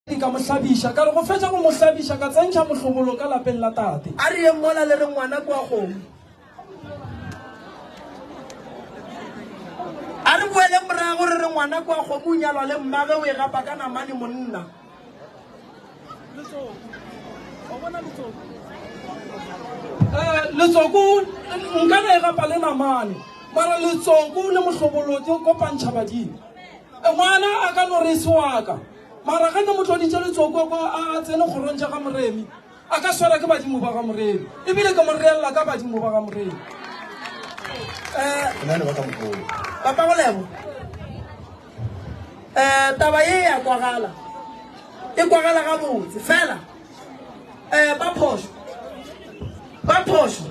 Ke ka mo hlabiša. Ka re go fetša go mo hlabiša, ka tsentšha mohlobolo ka lapeng la tate. A re yeng mola le re ngwana ke wa kgomo. A re boeleng morago re re ngwana ke wa kgomo, o nyalwa le mmage, o e gapa ka namane monna. Eh, Letsoko nka na e gapa le namane, mara Letsoko le mohlobolo di kopantšha badimo. Ngwana a ka no re se waka, mara ge ne mo tloditše letsoko kwa a a tsene kgorong tša ga Moremi, a ka swara ke badimo ba ga Moremi, ebile ke mo reelela ka badimo ba ga Moremi. Papa Golego, um taba ye ya kwagala, e kwagala gabotse fela um ba phošo, ba phošo.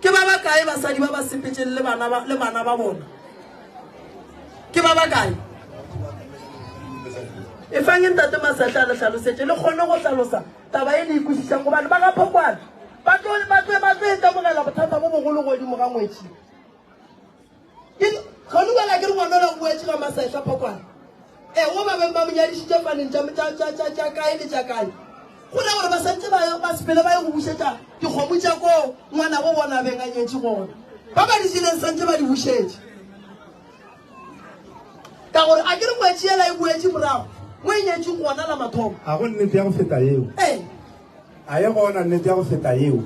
Ke ba bakae basadi ba ba sepetšeng le bana ba, le bana ba bona? Ke ba bakae? E fang Ntate Masahla a le hlalosetše, le kgone go hlalosa taba e le e kwešišang, gobane ba ga Phokwane ba tlo, ba tlo, ba tlo ikamogela bothata bo bogolo godimo ga ngwetši. Ga no bala ke re ngwana la boetše ga masehla phokwana. E wo ba beng ba monyadišitše faneng tša tša tša tša tša kae le tša kae. Go ra gore ba santse ba ba sepele ba ye go bušetša dikgomo tša ko ngwana go bona beng a nyetše gona. Ba ba di sileng santse ba di bušetše. Ka gore a ke re ngwetši yela e boetše morago mo e nyetše gona la mathomo. A go nnete ya go feta yeo. E. A e gona nnete ya go feta yeo?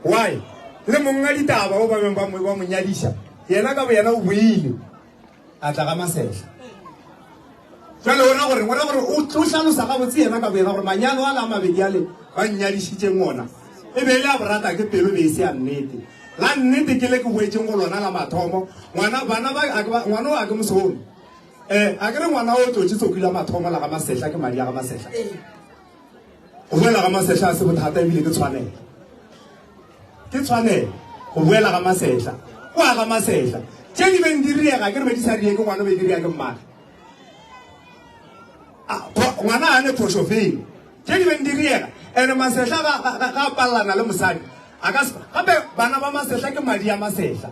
Why? Le monga ditaba o ba beng ba mo ba mo nyadiša, yena ka boyena o boile a tla ga masehla. Jwale ona gore ngwana gore o tlo hlalosa ga botse yena ka boyena gore manyalo a la mabedi ale ba nnyadišitše ngona. E be le a borata ke pelo be se ya nnete. La nnete ke le ke boetšeng go lona la mathomo. Ngwana bana ba a ke ba ngwana o a ke mosono. Eh, a ke re ngwana o tlotše tsokile mathomo la ga masehla ke madi a ga masehla. Go boela ga masetla a se bothata ebile ke tshwanelo. Ke tshwanelo go boela ga masetla. Go a ga masetla. Tše di beng di riega ke re be di sa riege ngwana be di riega ke mmane. Ngwana a ne phošo feng. Tše di beng di riega ene masetla ga a palelana le mosadi. A ka gape bana ba masetla ke madi a masetla.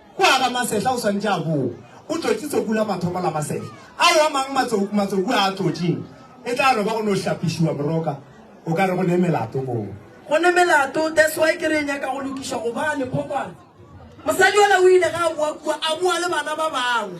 Go aga masehla o swanetše a bo o tlotše tsoku la mathomo la masehla ao a mang. Matsoku matsoku a a tlotšeng e tla no ba go no hlapišiwa moroka. O ka re go ne melato moo. Go ne melato, that's why ke re e nyaka go lokišwa gobane phokwana. Mosadi ola o ile ge a boa kua a boa le bana ba bangwe.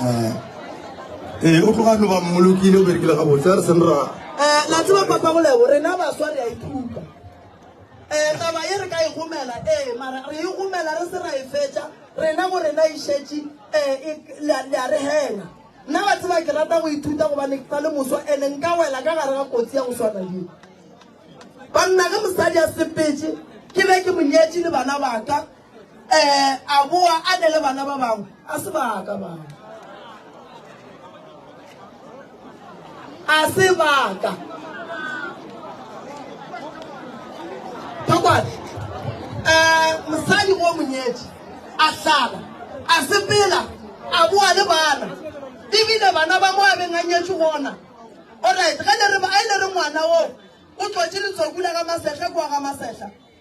eh, ee eh, o tloga no ba mmolokile o berekile ga botse a re seng ra um la tseba papa golebo rena baswa re a ithuta um taba e re ka e gomela ee mara re e gomela re se ra e fetša rena go rena e šetše um le a re hena nna ba tseba ke rata go ithuta gobane ke sa le moswa ande nka wela ka gare ga kotsi ya go swana le banna ge mosadi a sepetse ke be ke monyetše le bana baka eh a boa a ne le bana ba bangwe a se baka bangwe a se baka thokwale um eh, mosadi o monyetsi a tlala a sepela a boa le bana ebile bana ba mo a beng a nyetswe gona orit ge ne re ngwana oo o tlotse letsokula ka masehla koa ga masehla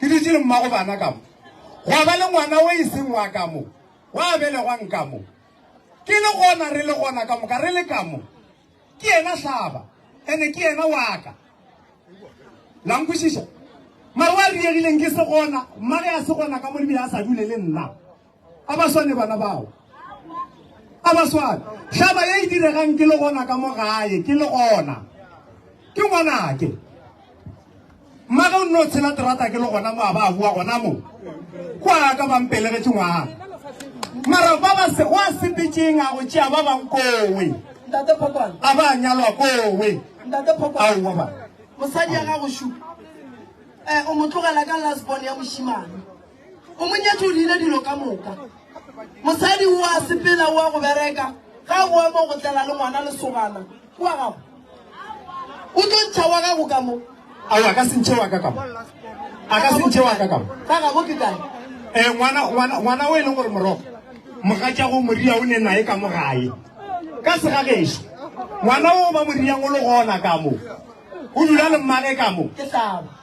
Ke dutše le mmago bana ka mo. Gwa ba le ngwana o e seng wa ka mo. Wa belegwang ka mo. Ke le gona re le gona ka moka re le ka mo. Ke yena hlaba. Ene ke yena wa ka. La nkwešiša? Mare wa riegileng ke se gona. Mmage a se gona ka mo le bile a sa dule le nna. A ba swane bana bao. A ba swane. Hlaba ye e diregang ke le gona ka mo gae, ke le gona. Ke ngwanake. Mmage o nno tshela terata ke le gona mo a ba a bua gona mo. Kwa ka ba mpelegetše ngwana. Mara ba ba se wa sepetšeng a go tšea ba bang kowe. Ntate Phokwana. A ba nyalwa kowe. Ntate Phokwana. Ao wa ba. Mosadi ya gago shu. Eh o mo tlogela ka last born ya moshimane. o mo nyetše o diile dilo ka moka mosadi o a sepela o a go bereka ga o ema go tlela le ngwana lesogana o a gago o tlo ntšha wa gago ka mo ao a ka se ntšhe wa ka kamo a ka se ntšhe wa ka kamo ka gabo ke kae um ngwana ngwana ngwana o e leng gore morogo mogatšago moria o ne nae ka mo gae ka segagešo ngwana o ba moriang o le gona ka mo o dula le mmage ka mo ke tlaba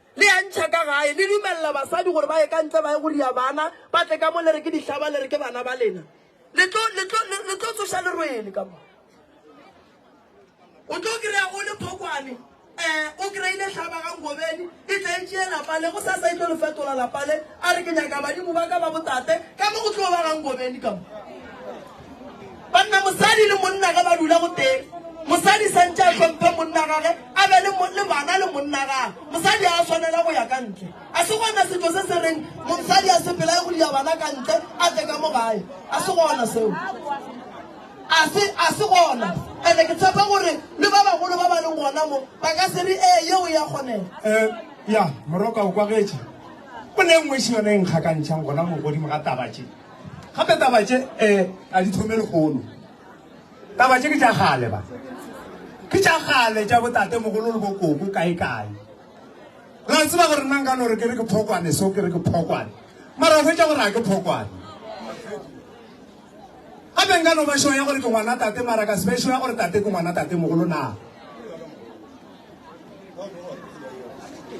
Le ya ntšha ka gae, le dumelela basadi gore ba ye ka ntle ba ye go ria bana, ba tle ka mo le re ke dihlaba, le re ke bana ba lena. Le tlo, le tlo, le, le tlo tsoša lerwele ka mo. O tlo kry-a o le phokwane, um o kry-ile hlaba ga ngobeni, e tla e tšee lapa le, go sasa e tlo le fetola lapa le, a re ke nyaka badimo ba ka ba botate, ka mo go tlo ba ga ngobeni ka mo. banna mosadi le monna ge ba dula go teng mosadi santse a hlomphe monna gage a be le bana le monna gage mosadi a swanela go ya ka ntle a se gona setso se se reng mosadi a sepela ya go dia bana ka ntle a tle ka mo gae a se gona seo a se a se gona ande ke tshepa gore le ba bagolo ba ba leng gona mo ba ka se re ee yeo ya kgonela eh, ya moroka o kwagetše o ne nngwe se yone e nkgakantšhang gona mo godimo ga tabatše Gape taba tše e a di thome lekgono. Taba tše ke tša gale ba. Ke tša gale tša botate mogolo le bokoko kae kae. Ra tseba gore nna nka no re ke re ke phokwane so ke re ke phokwane. Mara o hwetša gore a ke phokwane. Gape nka no ba sure ya gore ke ngwana tate mara ka se be sure ya gore tate ke ngwana tate mogolo na.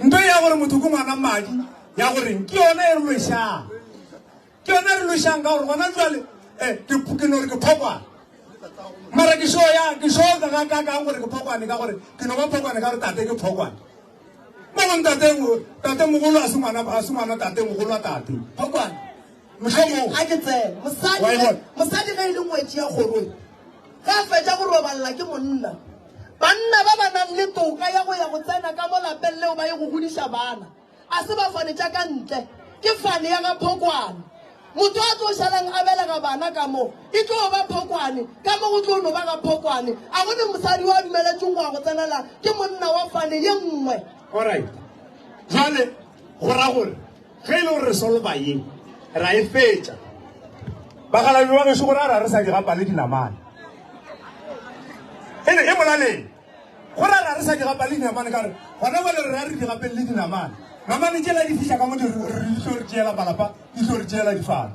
Nto ya gore motho ke ngwana mmadi ya gore ke yona e re lo e shang. Ke yona re lošang ka gore gona jwale eh, ke no re ke phokwane mara ke sho ya ke sho ka ga ka ka gore ke phokwane ka gore ke no ba phokwane ka gore tate ke phokwane mo go ntate mo tate mogolo a se ngwana a se ngwana tate mogolo a tate phokwane mohlomong a ke tsene mosadi mosadi ge e le ngwetsi ya gorong ge a fetsa go robalela ke monna banna ba ba nang le toka ya go ya go tsena ka mo lapeng leo ba ye go godisa bana A se ba fane tša ka ntle, ke fane ya ga Phokwane. Motho a tlo šalang a belega bana ka mo, e tlo ba Phokwane, ka mo go tlo no ba ga Phokwane. A go ne mosadi yo a dumeletšwego go ya go tsenela ke monna wa fane ye nngwe? Alright. Jwale go ra gore ge e le gore re solva ye ra e fetša bagalabi ba gešo gore a ra re sa di gapale dinamane e ne e molaleng Go ra ra re sa di gapa le dinamane ka re gona ba le re ra re di gapele le dinamane. Namane tšela di fiša ka mo di re tlo re tšeela malapa, di tlo re tšeela difana.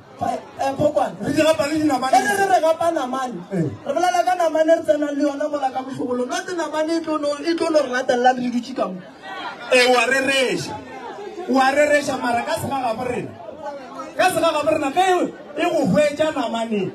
Eh, Phokwane. Re di gapa le dinamane. Ere re re gapa namane. Eh. Re bolela ka namane re tsenang le yona mola ka mohlogolo. No te namane e tlo no e tlo no re latelela re di dutše ka mo. E wa re reša. Wa re reša mara ka sega ga borena. Ka sega ga borena ge e go hwetša namane.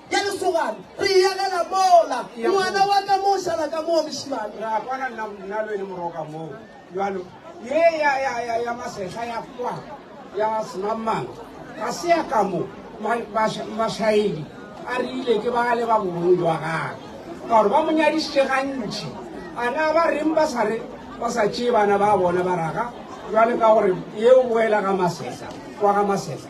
Ke lesogana, re eagela mola. Ngwana wa ka moo, šala ka moo, mešimane. Re a kwana nna nna lo ene moroka moo. Jalo, ye ya, ya, ya, ya masehla ya kwa, ya semamang, ga se ya ka mo. Ma, masha, mashaedi a rile ke ba le ba bobong jwa gagwe. Ka gore ba mo nyadišitše gantši. A na ba reng ba sa re, ba sa tšee bana ba bona ba raga, jwale ka gore yeo boela ga masehla, kwa ga masehla.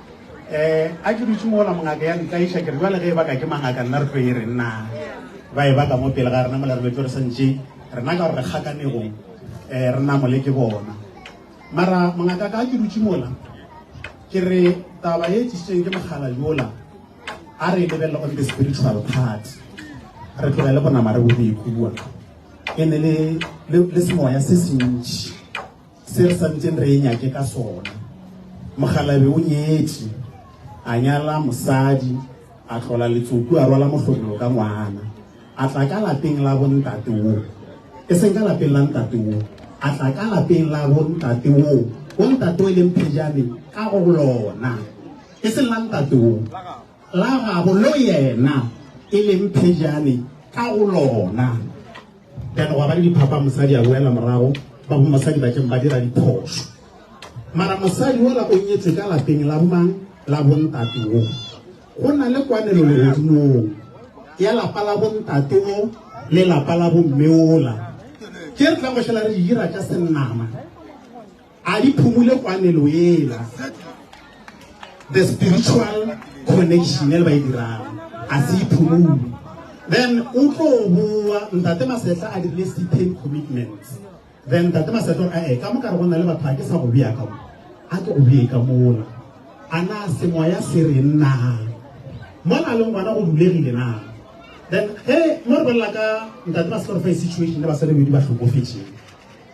um a ke dutše mola mongaka ya ntlaiša ke re jale ge e baka ke mangaka nna re tlo e re nna ba e baka mo pele ga rena mola re betse re santše rena ka gore re kgakanego um eh, re namole ke bona mara mongaka ka ke dutše mola ke re taba e tsisitsweng ke mogala yola a re e lebelele on the spiritual part re tlogele bonama re bo re ikua e ne le semoya se sentši Se re santšeng re e nyake ka sona. Mokgalabe o nyetše, a nyala mosadi, a tlola letsoku, a rwala mohlomelo ka ngwana, a tla ka lapeng la bontate wo, e seng ka lapeng la ntate wo, a tla ka lapeng la bontate wo, bontate wo e leng phejane ka go lona, e seng la ntate wo, la gabo lo yena e leng phejane ka go lona. then gwa ba le diphapa mosadi a boela morago ba bo mosadi ba keng ba dira diphoso mara mosadi ola o nyetswe ka lapeng la bomang la bontate o go na le kwanelo legodimong ya lapa la bontate o le lapa la bomme ola ke re tla go šhela re dira ka senama a di phumule kwanelo ela the spiritual connection e le ba e dirang a se iphumule then o tlo boa ntate masetla a dirile stipend commitments then ntate masetla a e ka mo ka re go na le batho a ke sa go bea ka mo a ke go bee ka mola a na semoya se re nna mo na le ngwana go bulegile na then he mo re bolela ka ntate masetla re fa e situation le basadi bedi ba hlokofetseng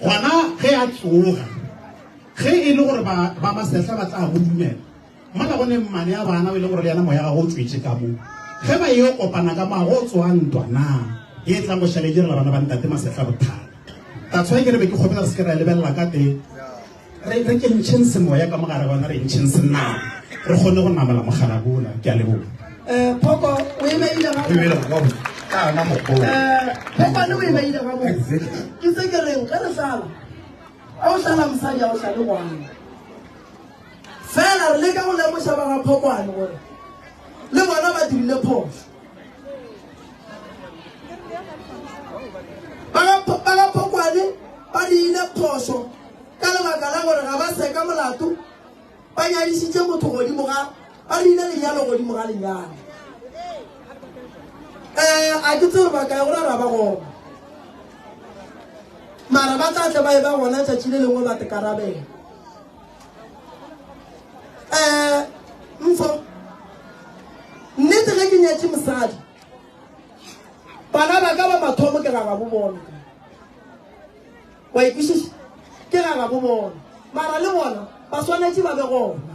Gona ge a tsoga, ge e le gore ba, ba masehla ba tla go dumela, mola go ne mmane a bana o e le gore le yena moya ga go tswetše ka mo. Ge ba yo kopana ka mo, go tsoga ntwa na ye e tlang go šale direla bana ba ntate masehla bothata. That's why ke re be ke kgopela re se ke ra e lebelela ka teng. re re kentšheng semoya ka mogare gona re ntšheng senao re kgone go namela mogalabola ke a leboga um phoko o emeile kana mogolo eh, phokwane o emeile ga mo ke se ke reng ge re sala a o sala mosadi a o sale ngwana fela re leka go lemoša ba ga phokwane gore le bona ba dirile phoso balapokwane ba diile phoso ka lebaka la gore ga ba seka molato ba nyadišitše motho godimo ga ba diile lenyalo godimo ga lenyalo um eh, a ke tseo bakae gore ra ba gona mara ba tla tle ba e ba gona tšatši le lengwe ba tekarabela um mfo nnete ge ke nyatše mosadi bana ba ka ba mathomo ke rara bo bona wa ikwešiša ke rara bo bona mara le bona ba swanetše ba be gona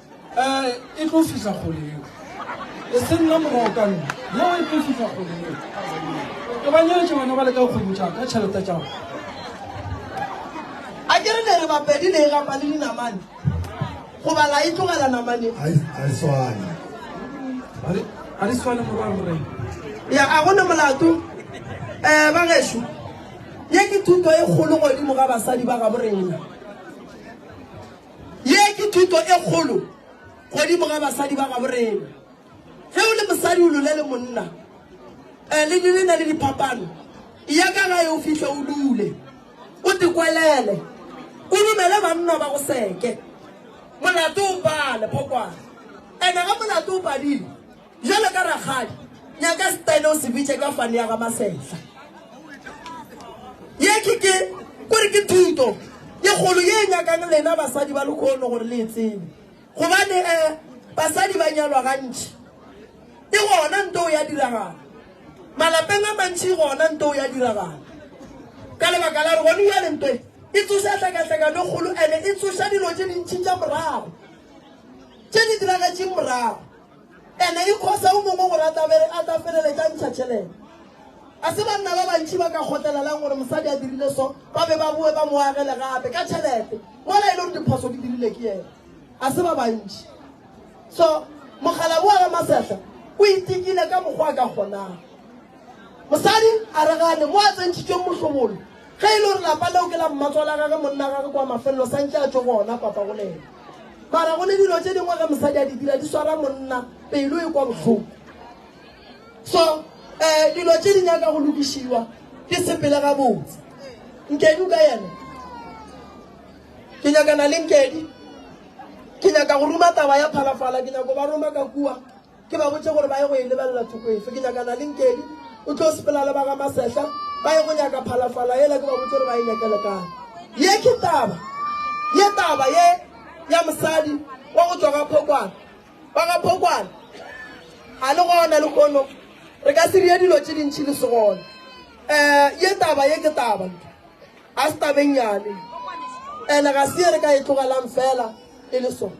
Eh, e tlo fihla kgole yeo. E se nna morago ka nna. Yeo e tlo fihla kgole yeo. Ke ba nyeletše bana ba le ka kgwedi tša ka tšhelete tša go. A ke re ne re bapedi ne e gapa le dinamane. Go bala e tlogela namane. Ai, ai swana. Ba re, a re swane morwa rre. Ya, a go ne molato. Eh, ba gešo. Ye ke thuto e kgolo godimo ga basadi ba ga borena. Ye ke thuto e kgolo godimo ga basadi ba gabo rena. Ge o le mosadi o lule le monna, eh, le le na le diphapano, ya ka gae o fihle o lule, o tikwelele, o dumele banna ba go seke. Molato o pale, phokwana. Ene ge molato o padile, Bjalo ka rakgadi, nyaka setane o se bitše ka fane ya ga Masehla. Ye ke ke kore ke thuto ye kgolo ye nyakang lena basadi ba lekhono gore le e tsebe. Gobane eh basadi ba nyalwa gantši e gona nto ya diragala. Malapeng a mantši gona nto ya diragala. Ka lebaka la re gone bjale nto e e tsoša hlakahlakano e kgolo ene e tsoša dilo tše dintši tša morago tše di diragetšeng morago. Ene e khosa o mongwe gore a tla bere a tla feleletša ntsha tšhelete. A se banna ba bantši ba ka kgotlelelang gore mosadi a dirile so ba be ba boe ba mo agele gape ka tšhelete mola e le gore diphoso di dirile ke yena. A se ba bantši. So mogala boa Ramasehla o itekile ka mokgwa a ka kgonang. Mosadi a re gane mo a tsentšhitšweng mohlomolo ge e le gore lapa leo ke la mmatswala gage monna gage kwa mafelelo santše a tšo gona papa go le ena. mara go le dilo tse dingwe ge mosadi a di dira di swara monna pelo e kwa bohloko so um dilo tse di nyaka go lokišiwa ke sepele ga botse nkedi o ka yena ke nyakana le nkedi ke nyaka go ruma taba ya phalafala ke nyako ba roma ka kua ke ba botše gore ba ye go e lebelela thoko efe ke nyakana le nkedi o tlo sepela le ba ga masehla ba ye go nyaka phalafala yela ke ba botse gore ba e nyakele kae ye ke taba ye taba ye ya mosadi wa go tswa ga phokwana ba ga phokwana ga le gona le kono re ka se rie dilo tse dintšhi le segone um ye taba ye ke taba ga se tabeng yane and-e ga se ye re ka e tlogelang fela e le sone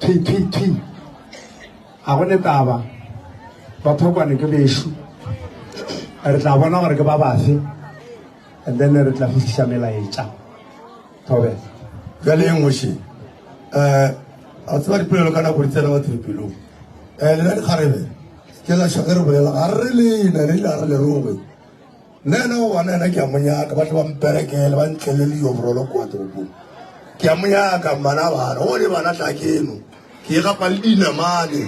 Thi, thi, thi. Ga go ne taba. Baphokwane ke bešo. Re tla bona gore ke ba bafe. And then re tla fihlisa melaetša. Thobe. Jale e ngoši. Eh, a tseba dipolelo ka nako di tsena batho dipelong. Eh, le la dikgarebe. Ke la šo ge re bolela. Ga re le na le la re le rongwe. Nna yena o wana yena ke a monyaka ba tle ba mperekele ba ntlele le yobrolo kwa toropong ke a monyaka mmana bana o le bana tla keno ke e gapa le dinamane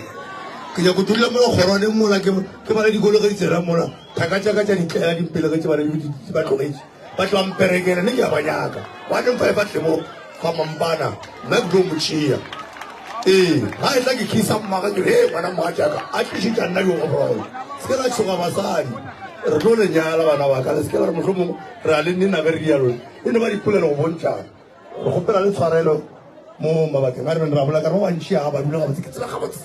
ke nyako dula mo kgorwane mola ke ke bana dikolo ge ditsela mola thaka tša ka tša ditlela dimpele ge tse bana di ba tlogetse ba tle ba mperekele ne ke a ba nyaka ba neng fa e fa tlemo Fa mampana, nna ke tlo mo tšea. Ee, ga e tla ke kisa mmaga ke re, Hee, ngwana mogatšaka, a tlišitša nna yo gorogo. Se ke la tšhoga basadi. Re tlo le nyala, bana ba ka. Le se ke la re mohlomongwe re a le nina ge re dialo. E no ba dipolelo go bontšana. Re kgopela le tshwarelo mo mabakeng a re beng re a bolela, ka re ba bantši a ba dula gabotse. Ke tseba gabotse.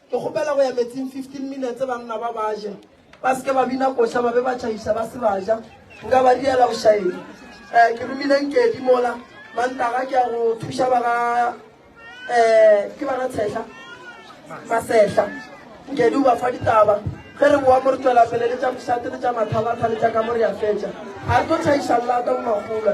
Ke kgopela go ya metsing 15 minutes banna ba ba je. Ba se ke ba bina koša ba be ba tšhabiša ba se ba ja. Nka ba diela bošaedi. Eh, ke romile Nkedi mola. Mantaga ke ya go thuša ba ga eh ke ba ga Tshehla. Masehla. Nkedi o ba fa ditaba. Ge re boa mo re tswela pele le tša mošate le tša mathalatha le tša ka mo re ya fetša. A re tlo tšhaiša llata mo magolwa.